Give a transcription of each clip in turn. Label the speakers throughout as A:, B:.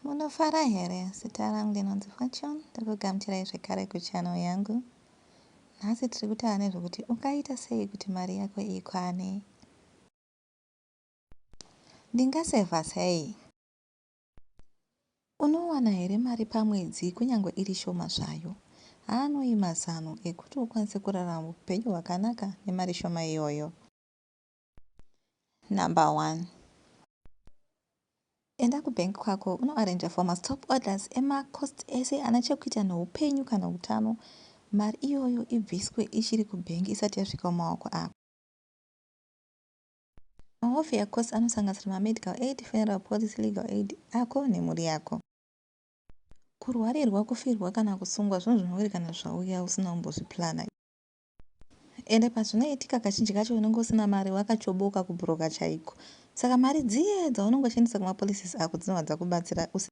A: Munofara here? Zita rangu ndinonzi Fortune, ndiri kugamuchirai zvekare kuchannel yangu. Nhasi tiri kutaura nezvekuti ungaita sei kuti mari yako ikwane. Ndingasevha sei? Unowana here mari pamwedzi kunyange iri shoma zvayo? Haanoi mazano ekuti ukwanise kurarama upenyu hwakanaka nemari shoma iyoyo. number one enda kubank kwako unoarranja for mastop orders emacost ese ana chekuita neupenyu kana utano mari iyoyo ibviswe ichiri kubank isati yasvika mumaoko ako mahofi acost anosanganisira mamedical aid funeral policy legal aid ako nemhuri yako kurwarirwa kufirwa kana kusungwa zvinhu zvinowerekana zvauya usina kumbozviplana Ende pazvinoitika kazhinji kacho unenge usina mari wakachoboka kubroker chaiko. Saka mari dziye dzaunenge uchishandisa kuma policies ako dzinobva dzakubatsira usi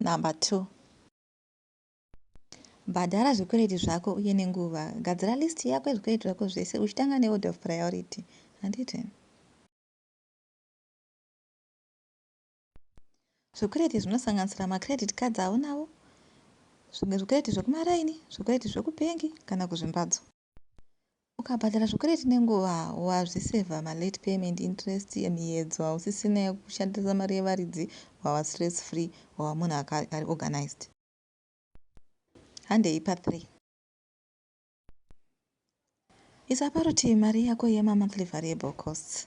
A: Number two, bhadhara zvikwereti zvako uye nenguva. Gadzira list yako yezvikwereti zvako zvese uchitanga neorder of priority. Handiti? Zvikwereti zvinosanganisira macredit cards aunavo, zvimwe zvikwereti zvekumaraini, zvikwereti zvekubhengi kana kuzvimbadzo. Ukabhadhara zvikwereti nenguva, wazvisevha malate payment interest emiyedzo hausisina yekushandisa mari yevaridzi, wava stress free, wava munhu ari organized. Handei pa 3. Isa parutivi mari yako yemonthly variable costs.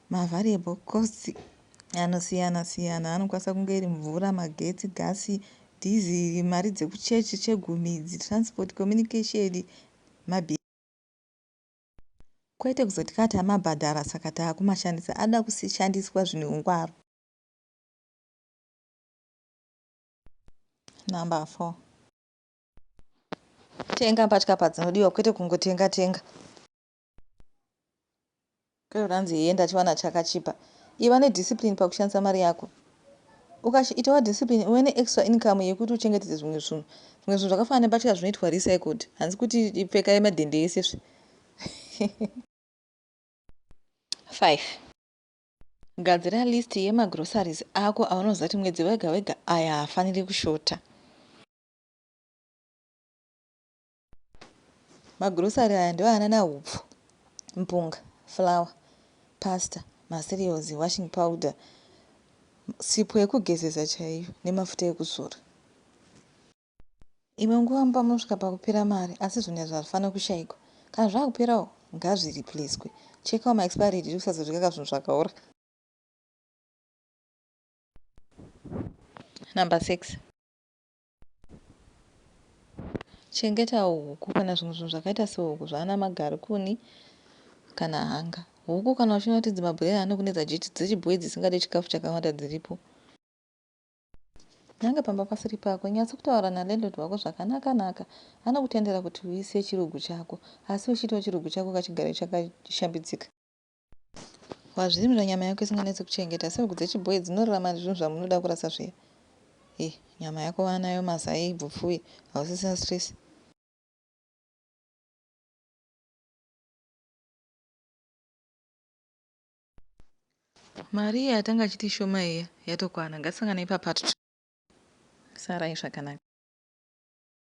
A: Mavariable costs anosiyana siyana anokwanisa kunge iri mvura, magetsi, gasi, dhizi, mari dzekuchechi chegumi idzi, transport, communication, mabhiri. Kwete kuzoti ka tamabhadhara saka takumashandisa, anoda kushandiswa zvine ungwaru. Number 4. Tenga mbatya padzinodiwa kwete kungotenga tenga. Kwete ranzi hee ndachiwana chakachipa. Iva ne discipline pakushandisa mari yako. Ukachi itawa discipline uve ne extra income yekuti uchengetedze zvimwe zvinhu. Zvimwe zvinhu zvakafanana nembatya zvinoitwa recycled. Hanzi kuti pfeka yemadhende ese zve. 5. Gadzira list yema groceries ako aunoziva kuti mwedzi wega wega aya haafaniri kushota. Magrocery aya ndiwo anana hupfu, mpunga, flour, pasta, macereals, washing powder, sipo yekugezesa chaiyo nemafuta ekuzora. Imwe nguva mumba munosvika pakupera mari asi zvinhu izvi hazvifanire kushaikwa. Kana zvava kuperawo ngazviripliswe. Chekawo maexpiry date kusazodya zvinhu zvakaora. Number 6. Chengetawo huku kana zvimwe zvinhu zvakaita sehuku zvaana magarikuni kana hanga. Huku kana uchiona kuti dzimabhureya anokunetsa jiti dzechibhoyi dzisingade chikafu chakawanda dziripo. Nanga pamba pasiri pako. Nyatso kutaura nalandlord wako zvakanaka naka. Anokutendera kuti uise chirugu chako asi uchiitawo chirugu chako kachigare chakashambidzika. Wazvirimira nyama yako isinganetse kuchengeta asi huku dzechiboe dzinorarama nezvinhu zvamunoda kurasa zviya. Hey, nyama yako waanayo mazai ibvu pfuye hausisina stress. Mari iya yatanga achiti ishoma iya yatokwana. Ngatisanganei papart 2. Sarai zvakanaka.